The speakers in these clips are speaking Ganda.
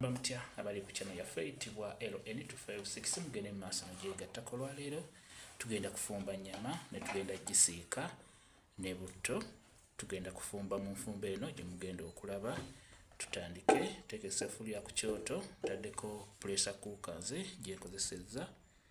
bamutya abali ku kyano yaffe eyitibwa ln256 mugende mu maaso nogyegattako olwaleero tugenda kufumba nyama netugenda gisiika ne butto tugenda kufumba mu nfumba eno gyemugenda okulaba tutandike tekesa efulya ku kyoto taddeko pulesa kuukanze gyenkozesezza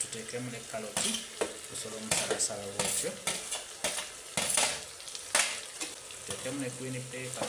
tuteekemu ne kaloti osobola omusalasala bwotyo tuteekemu ne green paper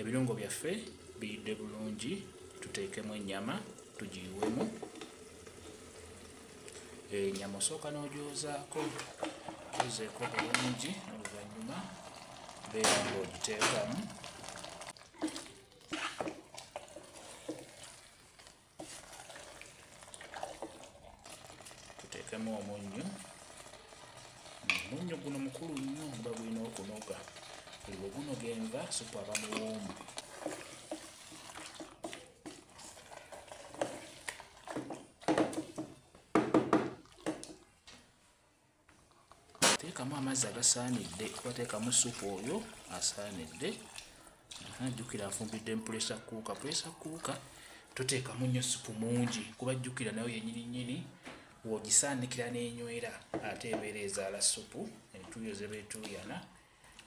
ebirungo byaffe biyidde bulungi tuteekemu ennyama tugiyiwemu enyama eh, osooka n'ogyozaako ozeeko bulungi oluvannyuma beera ng'ogiteekamu tuteekemu omunnyu omunnyu guno mukulu nnyo nga gulina okunoga buli bwe gunoga enva supu aba muwoomu teekamu amazzi agasaanidde obateekamu supu oyo asaanidde jjukira afumbidde mpulesa kuuka pulesa kuuka toteekamu nnyo supu mungi kuba jjukira nayo yenyini nyini wogisaanikira n'enywera ate ebeera ezaala supu entuuyo zebeetuuyana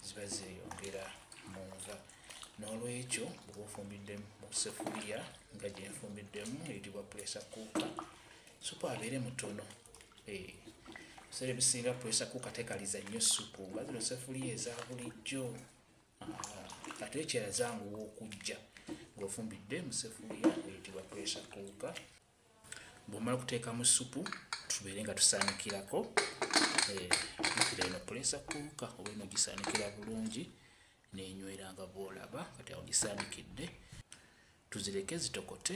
ziba zeyongera mu nva n'olwekyo oba ofumbidde mu sefuliya nga gyenfumbiddemu eyitibwa puresa kuuka supu abeere mutono eh, ebiseera ebisinga puresa kuuka tekaliza nnyo supu nga zino sefuliya eza bulijjo ah, ate ekyera zanguwa okujja ng'ofumbidde mu sefuliya eyitibwa puresa kuuka bwomala kuteekamu supu tubeere nga tusaanikirako eh, mpira eno puleesa kuuka oba eno gisaanikira bulungi nenywera nga bwolaba kati awo gisaanikidde tuzireke zitokote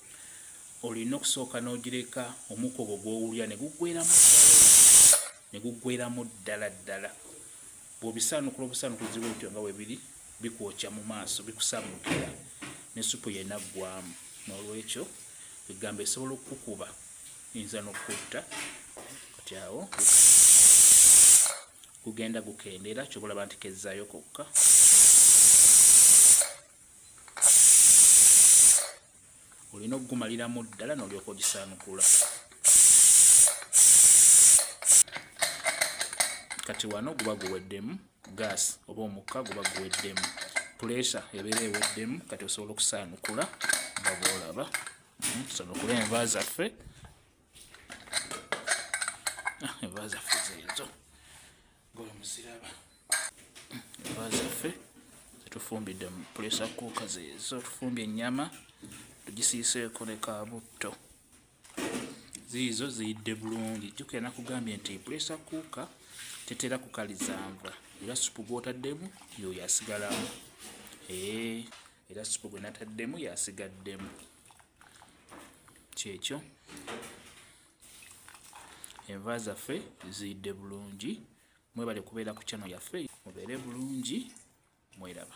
olina okusooka n'ogireka omukka ogwo gw'owulira ne guggweramu ne guggweramu ddala ddala bw'obisaanukula obusaanukula ziba otyo nga webiri bikwokya mu maaso bikusaamukira ne supu yena ggwamu n'olwekyo egamba esobola okukukuba eyinza n'okukutta kati awo gugenda gukendeera kyobola banti kezzaayo kokka olina okugumaliramu ddala nolyoka ogisanukula kati wano guba guweddemu gas oba omukka guba guweddemu pulesa ebeera eweddemu kati osobola okusaanukula nga bwolaba hmm, tusanukula enva zaffe tufumbidde mu pulesa kuuka zezo tufumbye ennyama tugisiiseeko ne kabutto ziizo ziyidde bulungi jjukira nakugambye nti pulesa kuuka tetera kukalizanva era supu gwotaddemu yoyo asigalamu era supu gwenataddemu yasigaddemu kyekyo enva zaffe ziyidde bulungi mwebale kubeera ku kyano yaffe mubeere bulungi mweraba